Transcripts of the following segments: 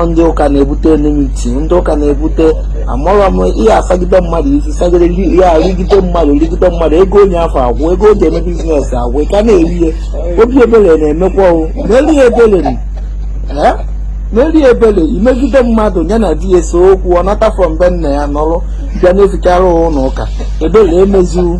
ndị ụka na-ebute enmity ndị ụka na-ebute amarọ m ihe a sagide mmadụ isi sagide ya rigide mmadụ rigide mmadụ ego onye afụ agwụ ego o ji eme bizinesi agwụ ka na-eri ya obi ebere na-emekwa unu meere ya ebere meere ya ebere i megide mmadụ ya na di ya ese okwu ọ nata from be nna ya nọrọ bịa na-ejekarị ụlọ ụka ebere emezi unu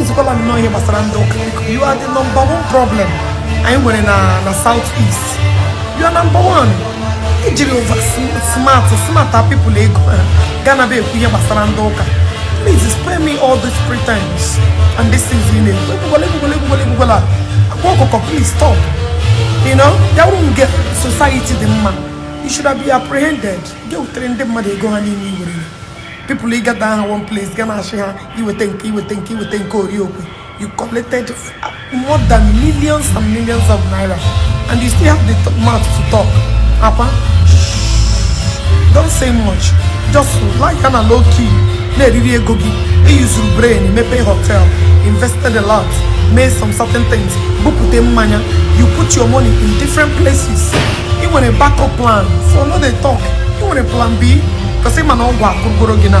Nzukwala nnọọ ihe gbasara ndị ụka you are the number one problem anyị nwere na na south east you are number one i jiri over smart smart people ego ha gaa na-abịa ekwu ihe gbasara ndị ụka please spare me all these pretense and this things you know ekwukwala ekwukwala ekwukwala ekwukwala Akwa Ọkụkọ please stop you know ya wụrụ nge society dị mma you should have been apprehended gị wutere ndị mmadụ ego ha niile i were people ị gather ha one place ga na-achị ha i weta nke i weta nke i weta nke oriokwe you collected more than millions and millions of naira and you still have the mouth to talk Akwa don't say much just lie ya na low key na-eriri ego gị i yuzuru brain mepee hotel invested a lot made some certain things bupute mmanya you put your money in different places i nwere backup plan so no dey talk i nwere plan b because ị ma na ọgwụ akwụgoro gị na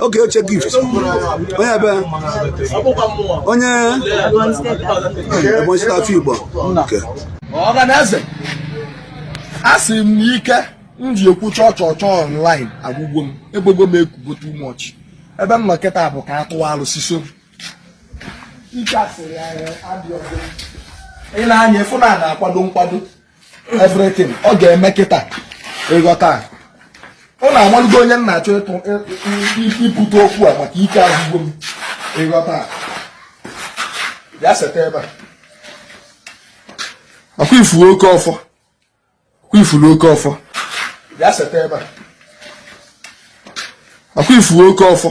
oge oche gift onye ebe onye Ebonyi steeti afọ Igbo ọhaneze asị m na ike m ji ekwu chọọ chọọ chọọ online agwụgo m egbogo m ekwugo too much ebe m nọ kịta bụ ka a tụwa alụsị so ike asịrị ya adịghị ọzọ. i nee anya ị fụ na a na-akwado nkwado everything ọ ga-eme kịta ị ghọta unu amalugo onye m na-achọ ibute okwu a maka ike agwụgo m ị ghọta ya seta ebe a ọkwa ị fụrụ oke ọfọ ọkwa ị fụrụ oke ọfọ ya seta ebe a ọkwa ị fụrụ oke ọfọ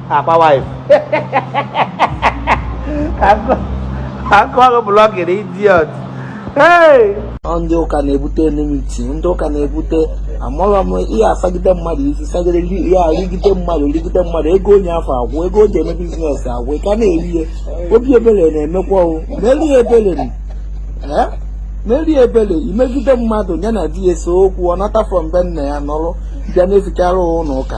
Akwa wife akọghị blọkịrị idiot ndị ụka na-ebute enmity ndị ụka na-ebute amarọ m ihe a sagide mmadụ isi sagide ya rigide mmadụ rigide mmadụ ego onye afụ agwụ ego o ji eme biznes agwụ ka na-eri ya obi ebere na-emekwa unu meere ya ebere meere ya ebere i megide mmadụ ya na di ya ese okwu ọ nata from be nna ya nọrọ bịa na-ejekarị ụlọ ụka